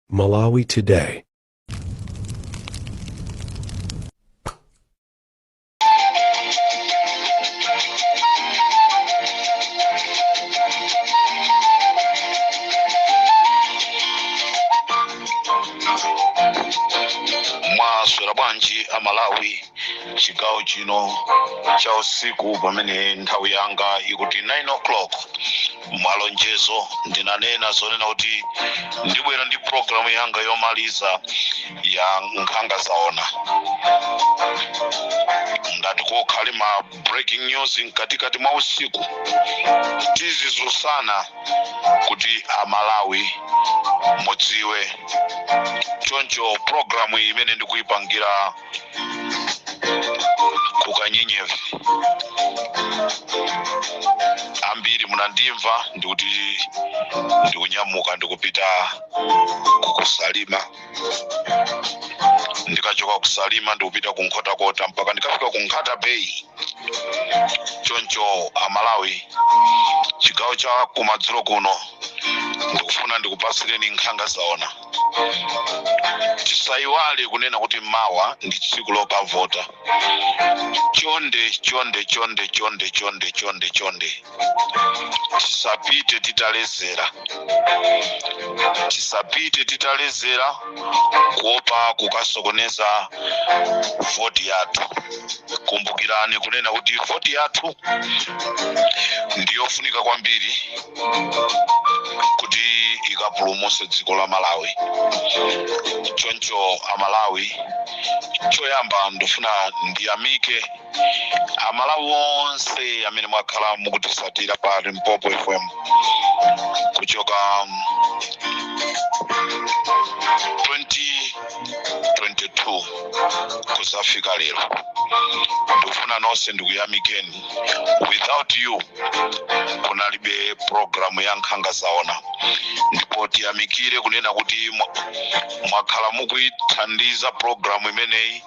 Malawi Today. mwaswera bwanji amalawi chigawo chino cha usiku pamene nthawi yanga ikuti 9 o'clock malonjezo ndinanena zonena kuti ndibwera ndi programu yanga yomaliza ya nkhanga zaona ngati kukhale ma breaking news mkatikati mwa usiku tizizusana kuti amalawi mudziwe choncho programu imene ndikuyipangira kukanyenyevi ambiri munandimva ndikuti ndikunyamuka ndikupita kukusalima ndikachoka kusalima ndikupita kunkhotakota mpaka ndikafika ku nkhata bay choncho amalawi chigawo cha kumadzulo kuno ndikufuna ndikupatsireni nkhanga zaona tisayiwale kunena kuti mawa ndi tsiku lokavota chonde chonde chonde chonde chonde chonde chonde tisapite titalezera tisapite titalezera kuopa kukasokoneza voti yathu kumbukirani kunena kuti voti yathu ndiyofunika kwambiri kuti ikapulumuse dziko la malawi choncho amalawi choyamba ndifuna ndiyamike amalawi onse amene mwakhala mukutisatira pa limpopo fm kuchoka 2022 kuzafika lero ndifuna nonse ndikuyamikeni without you kunalibe programu ya nkhanga zaona ndipo tiyamikire kunena kuti mwakhala mukuyithandiza programu imeneyi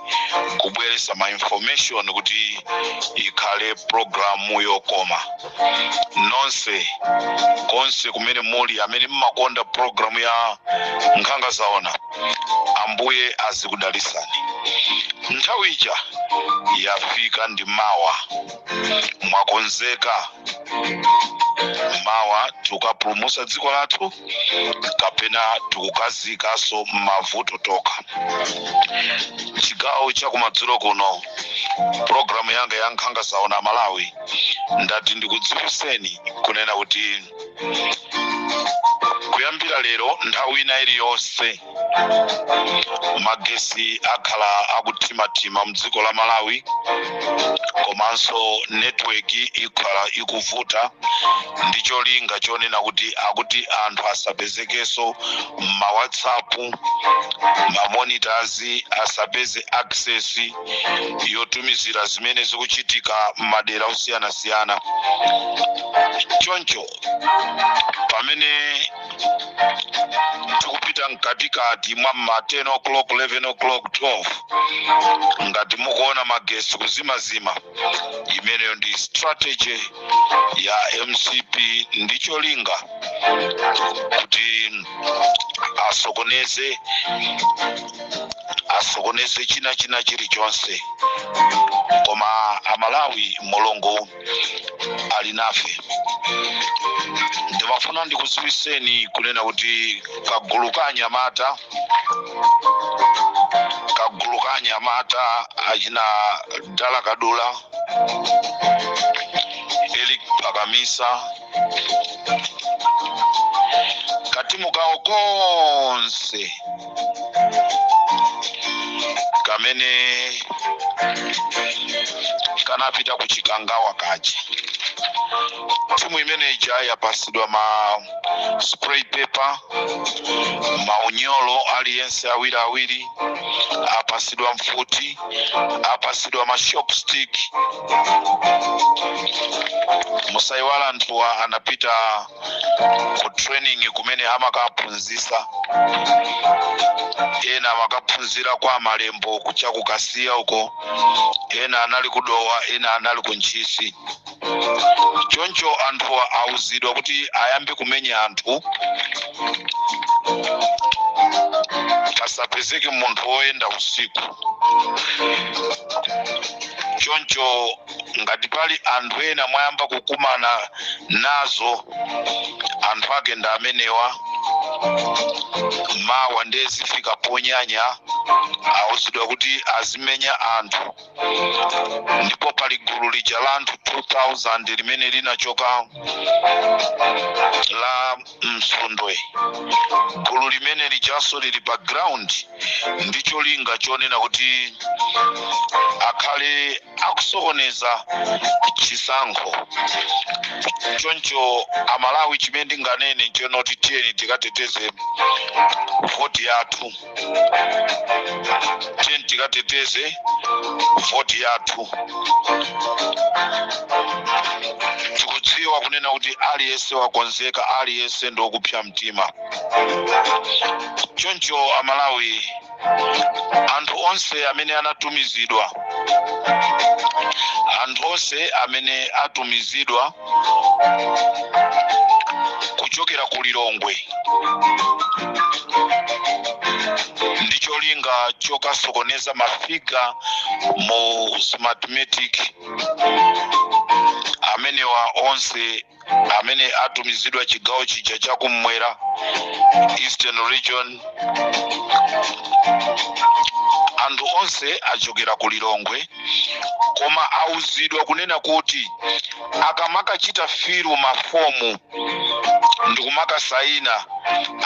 kubweresa ma information kuti ikhale programu yokoma nonse konse kumene muli amene mmakonda programu ya nkhanga zaona ambuye azikudalisani nthawi ija yafika ndi mawa mwakonzeka mawa tikukapulumusa dziko lathu kapena tikukaziikaso mmavuto tokha chigawo chakumadzulo kuno programu yanga ya nkhanga zaona malawi ndati ndikudziwiseni kunena kuti kuyambira lero nthawi ina iliyonse magesi akhala akuthimathima m'dziko la malawi komanso netiweki ikhala ikuvuta ndi cholinga chonena kuti akuti anthu asapezekenso m'mawhatsapp ma monitors asapeze access yotumizira zimene zikuchitika m'madera osiyanasiyana choncho pamene tikupita mkatikati mwa ma 10 o'clock 11 o'clock 12 ngati mukuona magesi kuzimazima imeneyo ndi strategy ya mcp ndi cholinga kuti asokoneze asokoneze china china chilichonse koma amalawi mulungu ali nafe ndimafuna ndikudziwitseni kunena kuti kagulu ka anyamata kagulu ka anyamata achina dala kadula elik pakamisa katimu kawo konse kamene kanapita ku chikangawa kaja timu imene ija yapatsidwa ma spray pepper maunyolo aliyense awiri awiri apatsidwa mfuti apatsidwa ma shock stick musaiwale anthuwa anapita ku training kumene amakaphunzitsa ena amakaphunzira kwa malembo kucha kukasiya uko ena anali ku dowa ena anali ku ntchisi choncho anthuwa auzidwa kuti ayambe kumenya anthu pasapezeke munthu woyenda usiku choncho ngati pali anthu ena mwayamba kukumana nazo anthu ake ndi amenewa mawa ndiye zifika ponyanya auzidwa kuti azimenya anthu ndipo pali gulu lija la anthu 2000 limene linachoka la msundwe gulu limene lijanso lili pa ground ndi cholinga chonena kuti akhale akusokoneza chisankho choncho amalawi chimene ndinganene nchakuti tiyeni tikateteze voti yathu tiyeni tikateteze voti yathu tikudziwa kunena kuti aliyense wakonzeka aliyense ndi okupsa mtima choncho amalawi anthu onse amene anatumizidwa anthu onse amene atumizidwa kuchokera ku lilongwe ndi cholinga chokasokoneza mafiga mu smartmatic amenewa onse amene atumizidwa chigawo chija chakumwera eastern region anthu onse achokera ku lilongwe koma auzidwa kunena kuti akamakachita filu mafomu ndikumakasayina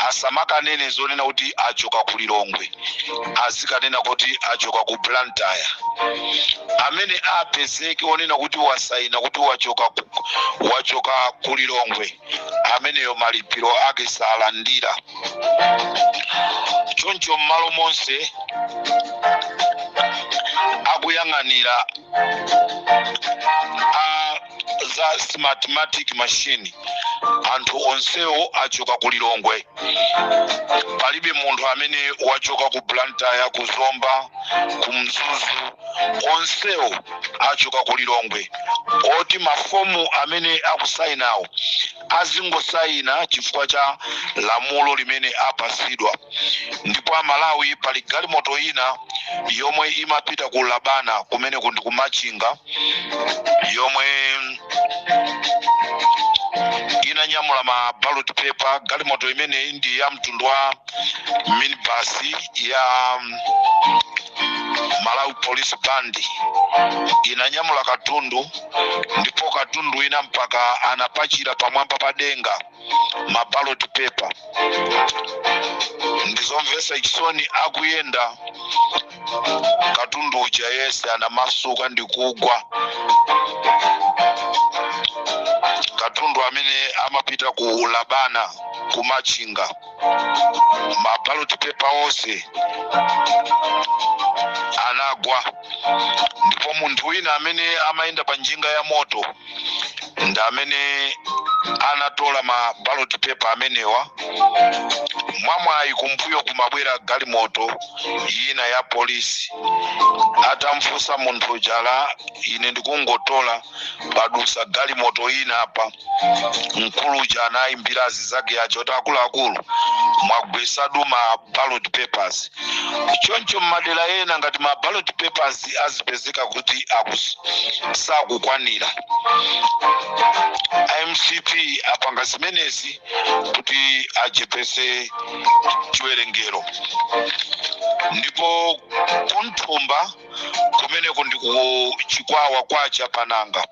asamakanene zonena kuti achoka ku lilongwe azikanena kuti achoka ku blantyre amene apezeke onena kuti wasayina kuti wachoka ku, wachoka ku lilongwe ameneyo malipiro ake salandira choncho m'malo monse akuyang'anira a za smartmatic machine anthu onsewo achoka ku lilongwe palibe munthu amene wachoka ku blantyre ku zomba ku mzuzu onsewo achoka ku lilongwe oti mafomu amene akusayinawo azingosayina chifukwa cha lamulo limene apasidwa ndipo amalawi pali galimoto ina yomwe imapita ku labana kumeneku ndi ku machinga yomwe inanyamula ma ballot paper galimoto imeneyi ndi ya mtundu wa minibasi ya malawi police band inanyamula katundu ndipo katundu ina mpaka anapachira pamwamba pa denga ma ballot paper ndizomvesa chisoni akuyenda katundu uja yese anamasuka ndikugwa katundu amene amapita ku labana ku machinga ma ballot paper onse anagwa ndipo munthu wina amene amayenda pa njinga ya moto ndi amene anatola ma ballot paper amenewa mwamwayi kumbuyo kumabwera galimoto yina ya polisi atamfunsa munthu uja ine ndikungotola padusa galimoto yina apa mkulu uja anayimbira azizake aja kuti akuluakulu mwagwesadu ma ballot papers choncho mmadera ena ngati ma ballot papers azipezeka kuti sakukwanira mcp apanga zimenezi kuti achepese chiwerengero ndipo kunthumba kumeneko ndi ku chikwawa kwa chapananga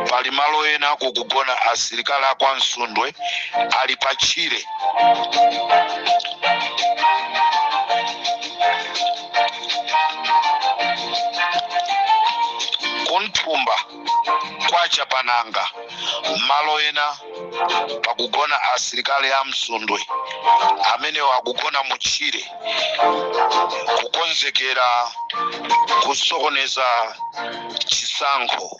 pali malo ena kukugona asilikali akwa msundwe ali pa tchire ku nthumba kwa chapananga malo ena pakugona asilikali a msundwe amenewo akugona mu tchire kukonzekera kusokoneza chisankho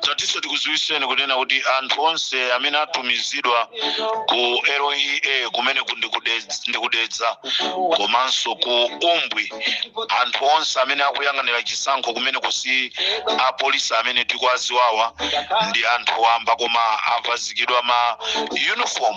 tatinso tikuziwiseni kunena kuti anthu onse amene atumizidwa ku lea kumeneku ndi ku dedza komanso ku umbwi anthu onse amene akuyang'anira chisankho kumeneku si apolisi amene tikuwaziwawa ndi anthu wamba koma avazikidwa ma uniform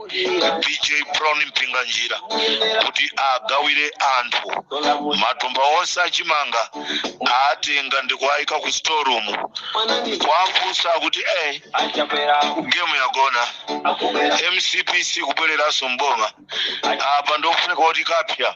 bj brown mpinganjira kuti agawire anthu matumba onse achimanga atenga ndikuayika ku storeroom kuwafunsa kuti e gemu yagona mcp sikubwereranso mboma apa ndiyofunika kuti kapsya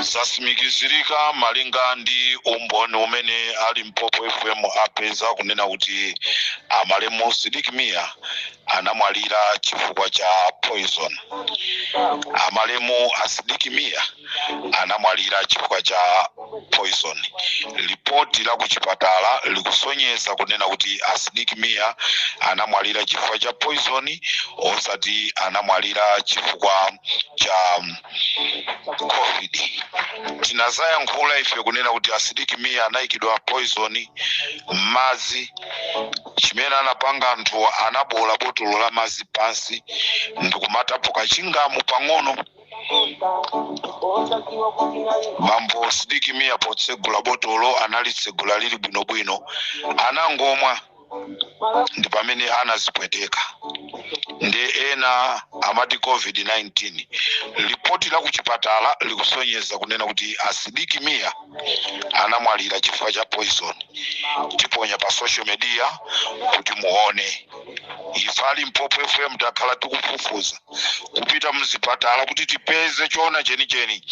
zasimikizirika malinga ndi umboni umene a limpopo fm apeza kunena kuti amalemu sidik mia anamwalira chifukwa cha poison amalemu asidiki mia anamwalira chifukwa cha poison lipoti la kuchipatala likusonyeza kunena kuti asidik mia anamwalira chifukwa cha poison osati anamwalira chifukwa cha covid tinazayankhula ife kunena kuti asidik mia anayikidwa poison m'madzi chimene anapanga anthu anabola botolo la madzi pansi ndikumatapo ka chingamu pang'ono bambo sidik mia potsegula botolo analitsegula lili bwinobwino anangomwa ndi pamene anazipweteka ndi ena amati covid-19 lipoti la kuchipatala likusonyeza kunena kuti asidik mia anamwalira chifukwa cha poison tiponya pa social media kuti muone ife a limpopo fm takhala tikufufuza kupita mzipatala kuti tipeze choona chenicheni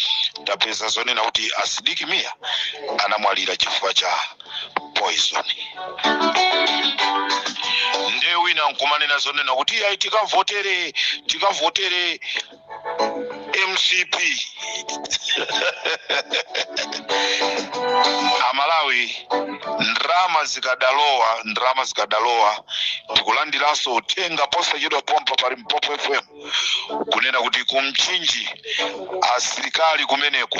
tapeza zonena kuti a sidik mia anamwalira chifukwa cha poison nde wina nkumanena zonena kuti ayi tikavotere tikavotere mcp amalawi ndrama zikadalowa ndrama zikadalowa tikulandiranso uthenga posachedwa pompa pa limpopo fm kunena kuti kumchinji asilikali kumeneko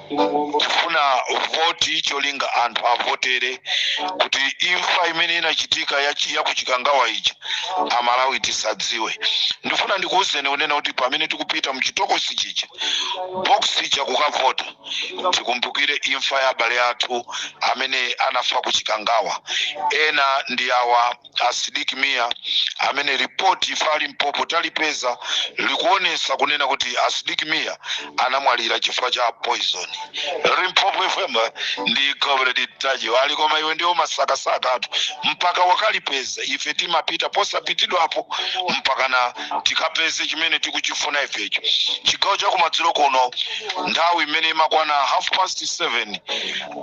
kufuna voti cholinga anthu avotere kuti imfa imene inachitika yachi- ya kuchikangawa ija amalawi tisadziwe ndifuna ndikuwuzeni kunena kuti pamene tikupita mchitokosi chija box ija kukavota tikumbukire imfa ya abale athu amene anafa kuchikangawa ena ndi awa a Sidik Mia amene ripoti ife a Limpopo talipeza likuonesa kunena kuti a Sidik Mia anamwalira chifukwa cha poison. Limpopo FM ndi Gobredi Tajo ali koma iwe ndio masakasakatu mpaka wakalipeza ife timapita posapitidwapo mpakana tikapeze chimene tikuchifuna ifecho. Chigawo cha kumadzulo kuno nthawi imene imakwana half past 7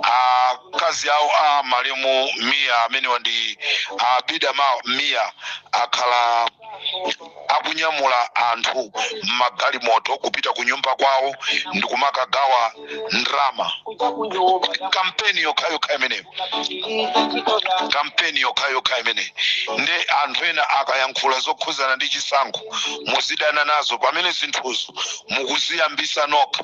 a akazi awo a malemu mia amenewa ndi abida ma mia akhala akunyamula anthu m'magalimoto kupita ku nyumba kwawo ndi kumakagawa ndrama kampeni yokhayokha imeneyo kampeni yokhayokha imene nde anthu ena akayankhula zokhuzana ndi chisankho muzidana nazo pamene zinthuzo mukuziyambisa nokha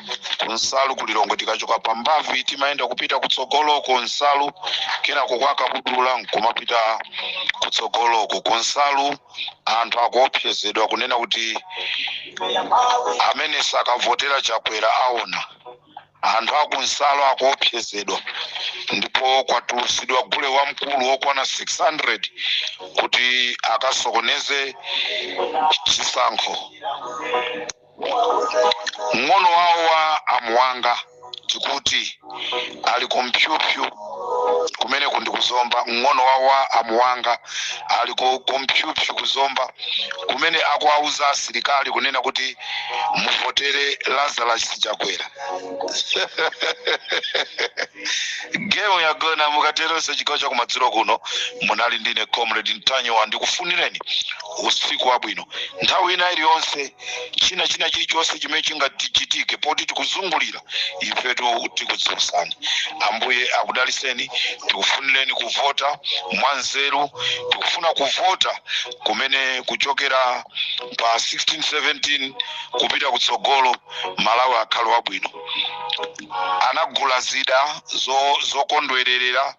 kunsalu ku lilongwe tikachoka pa mbavi timayenda kupita kutsogoloko nsalu kenako kwa kabudula nkumapita kutsogoloko kunsalu anthu akuopsezedwa kunena kuti amene sakavotera chakwera aona anthu akunsalu akuopsezedwa ndipo kwatulusidwa gule wamkulu wokwana 600 kuti akasokoneze chisankho mng'ono wawo wa amuwanga tikuti ali ku mpyupyu kumeneko ndi kuzomba mng'ono wawo wa amuwanga ali ku mpyupyu kuzomba kumene akuwauza asilikali kunena kuti muvotere lazarus chakwera gemu yagona mukateronso chigawo cha kumadzulo kuno munali ndine comrade ntanyiwa ndikufunireni usiku wabwino nthawi ina iliyonse china china chilichonse chimene chingachitike poti tikuzungulira ifetu tikudziwitsani ambuye akudaliseni tikufunireni kuvota mwanzeru tikufuna kuvota kumene kuchokera pa 16 17 kupita kutsogolo malawi akhale wabwino anagula zida zo- zokondwererera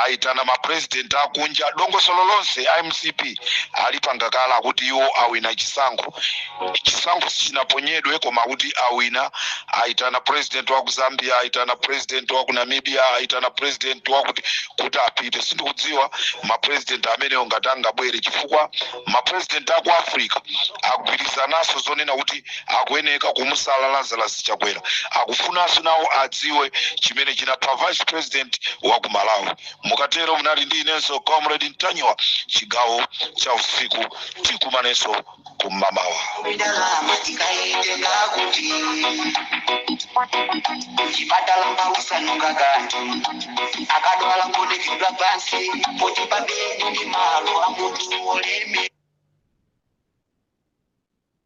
aitana mapurezidenti akunja dongosolo lonse a mcp alipanga kale kuti iwo awina chisankho chisankho sichinaponyedwe koma kuti awina aitana purezidenti wa ku zambia aitana purezidenti wa ku namibia aitana purezidenti wakuti kuti apite sindikudziwa mapurezidenti amenewo ngati angabwere chifukwa mapurezidenti a ku africa agwirizananso zonena kuti akuyeneka kumusala lazarus chakwera akufunanso nawo adziwe chimene chinapha vice president wa ku malawi mukatero munali ndi inenso comrade ntanyiwa chigawo cha usiku tikumanenso kumamawa Ndalama tikaitenga kuti chipatala pa osanunkha kanthu akadwala ngonekedwa pansi poti pabedi ndi malo a munthu oleme